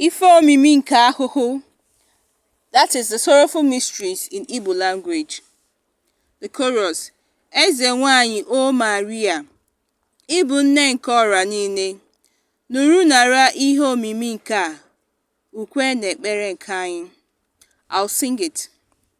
Ife omimi nke ahụhụ That is the sorrowful mysteries in Igbo language. The chorus Eze nwanyị O Maria, ị bụ nne nke ọra niile, nụrụ nara ihe omimi nke a, ukwe na ekpere nke anyị. I'll sing it.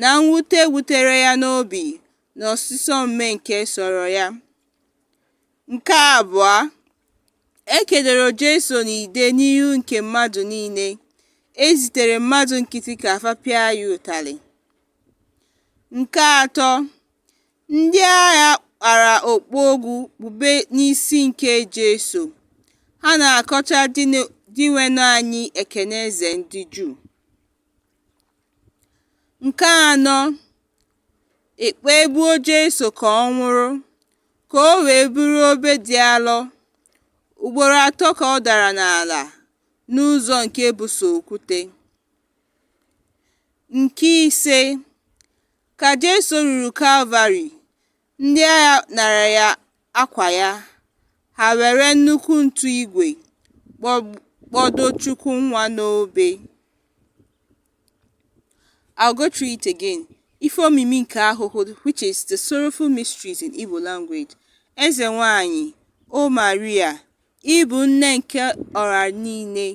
na mwute wutere ya n'obi na ọsịsọ mme nke sọrọ ya. Nke abụọ, e kedoro Jesu n'ide n'ihu nke mmadụ niile, e zitere mmadụ nkịtị ka fa pịa ya ụtalị. Nke atọ, ndị agha kpara okpu ogwu kpube n'isi nke Jesu, ha na-akọcha Dinwenụ anyị Ekene Eze ndị Juu. Nke anọ, e kpegbuo Jesu ka ọ nwụrụ, ka o wee buru obe dị alọ. Ugboro atọ ka ọ dara n'ala n'ụzọ nke bụ sọ okwute. Nke ise, ka Jesu ruru Kalvarị, Ndị agha nara ya akwa ya, ha were nnukwu ntu igwe kpọdo Chukwu nwa n'obe. I'll go through it again. Ife omimi nke ahụhụ which is the sorrowful mysteries in Igbo language. Eze nwanyị, O Maria, ị bụ nne nke ọra niile,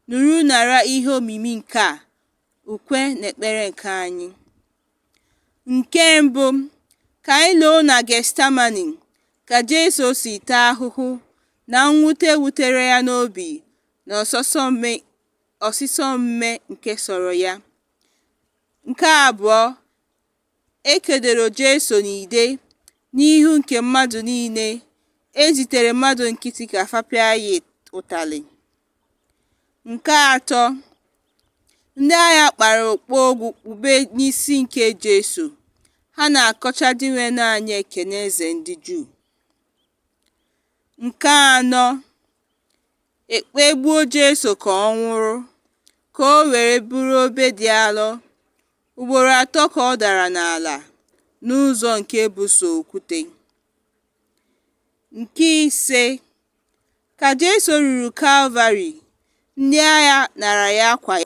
nụrụ nara ihe omimi nke a, ukwe na ekpere nke anyị. Nke mbụ, ka anyị loo na Getsemane ka Jesu si taa ahụhụ na mwute wutere ya n'obi na ọsịsọ mme nke sọrọ ya. Nke abụọ, e kedoro Jesu n'ide n'ihu nke mmadụ niile, e zitere mmadụ nkịtị ka fa pịa ya ụtalị. Nke atọ, ndị agha kpara okpu ogwu kpube n'isi nke Jesu, ha na-akọcha Dinwenụ anyị Ekene Eze ndị Juu. Nke anọ, e kpegbuo Jesu ka ọ nwụrụ, ka o were buru obe dị alọ. Ugboro atọ ka ọ dara n'ala n'ụzọ nke bụ sọ okwute. Nke ise, Ka Jesu ruru Kalvarị, ndị agha nara ya akwa ya.